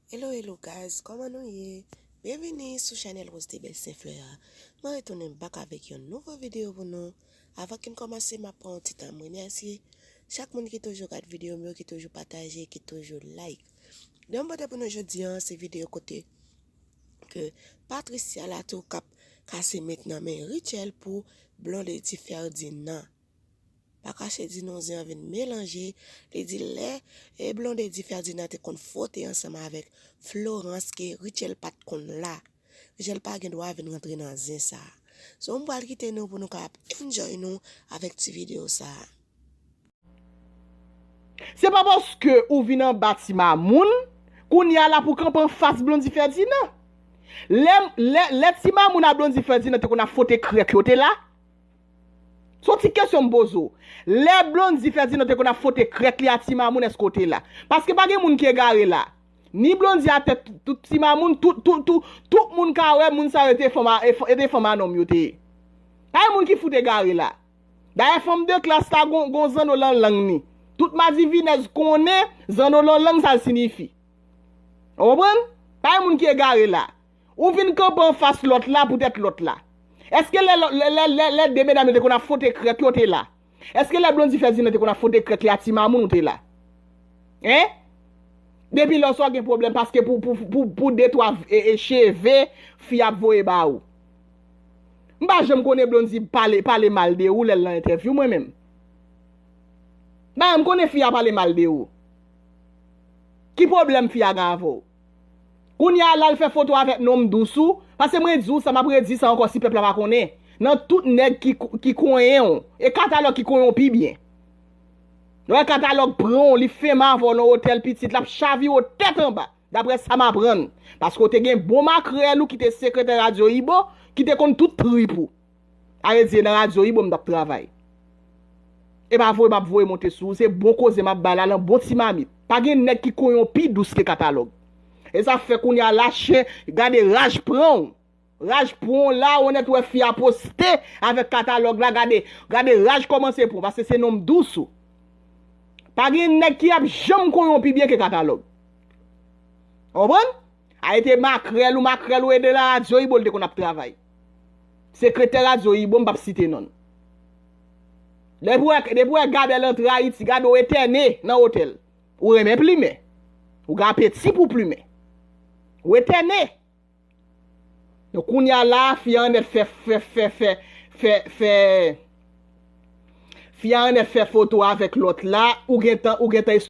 Hello hello guys kòman nou ye Byenvini sou chanèl Rose de Belle Saint Fleur a Mwen retounen bak avèk yon nouvo videyo pou nou Avan ke n kòmanse m ap pran yon ti tan m remèsye Chak moun ki toujou gad videyo m yo ki toujou pataje ki toujou like Videyo m pote pou nou jodi an se videyo kote ke Patricia Latour k ap kase met nan men Rutshelle pou Blondedy Ferdinand Pa kache di non zen an vin melanje, li di lè e Blondedy Ferdinand te konn fwote ansanm avèk Florence ke Rutshelle pat konn la. Rutshelle pa gen dwa vin rantre nan zen sa. So m pral kite nou pou nou ka ap enjoy nou avèk ti video sa. Se pa paske ou vin anba ti mamoun, kounya la pou kanpe anfas Blondy Ferdinand. Lè lè ti mamoun a Blondy Ferdinand te konn ap fwote krèk yo te la. Son ti kesyon m poze w. Lè Blondy Ferdinand te konn ap fwote krèk li a Ti Mamoun èske w te la? Paske pa gen moun ki egare la. Ni Blondy a tèt tout Ti Mamoun tout tout tout tout moun ka wè moun sa yo te fanm yo te fanm a nonm yo te ye. Pa gen moun ki fout egare la. Dayè fanm de klas la gon gon zanno lan lang ni. Tout madivinèz konnen zanno lan lang sa l sinifi. Ou konprann? Pa gen moun ki egare la. Ou vin kanpe anfas lòt la poutèt lòt la. Èske lè lè lè 2 medam yo te konn ap fwote krèk yo ou te la? Èske lè Blondy fè Zina te konn ap fwote krèk li a ti mamoun ou te la? Hein? Depi lè sa w gen pwoblèm paske pou pou pou pou de twa cheve fi ap voye ba ou. M pa janm konnen Blondy pale pale mal de ou lè l nan entèvyou mwen menm. M pa janm konnen fi a pale mal de ou. Ki pwoblèm fi a gen avè w? Kounye a la l fè foto avèk non m dous ou, pase mwen di w sa m ap redi sa ankò si pèp la pa konnen, nan tout nèg ki konyen w, e katalòg ki konyen w pi byen. Lè w wè katalòg pran w, li fèmen avè w nan otèl pitit, l ap chavire w tèt anba, daprè sa m aprann, paske w te gen bon makrèl ou ki te sekretè radyo Ibo, ki te konn tout trip ou. Aredi e nan radio wi boo m tap travay. E pa voye map voye monte sou ou se bon koze map bay la lan bon ti mamit. Pa gen nèg ki kon yon pi dous ke katalog. E sa fè kounye a la chen gade raj pranw. Raj pranw la ou nèt wè fi a poste avèk katalog la gade gade raj komanse pranw paske se nonm dous ou. Pa gen nèg ki ap janm kon yon pi byen ke katalog. Ou konprann? Arete makrèl ou makrèl ou e de lan radio wi boo li te konn ap travay. Sekretè radyo ibo m pap site non l. Depi w wè Gabèl antre Ayiti gade w etène nan otèl. Ou renmen plimen. Ou gen apeti pou w plimen. Ou etène. Donk kounye a la a fi a anèt fè fè fè fè fè fè fi a anèt fè foto avèk lòt la ou gentan ou gentan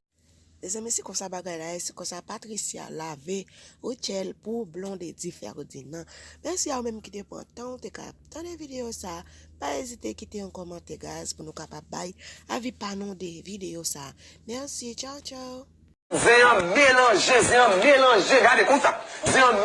Mezanmi se konsa bagay la ye se konsa Patricia lave Rutshelle pou Blondedy Ferdinand Mèsi a ou menm ki te pran tan ou te ka ap tande videyo sa Pa ezite kite yon kòmantè guys pou nou kapab bay avi pa nou de videyo sa Mèsi Tchao tchao. Zen an melanje zen an melanje gade konsa zen an melanje.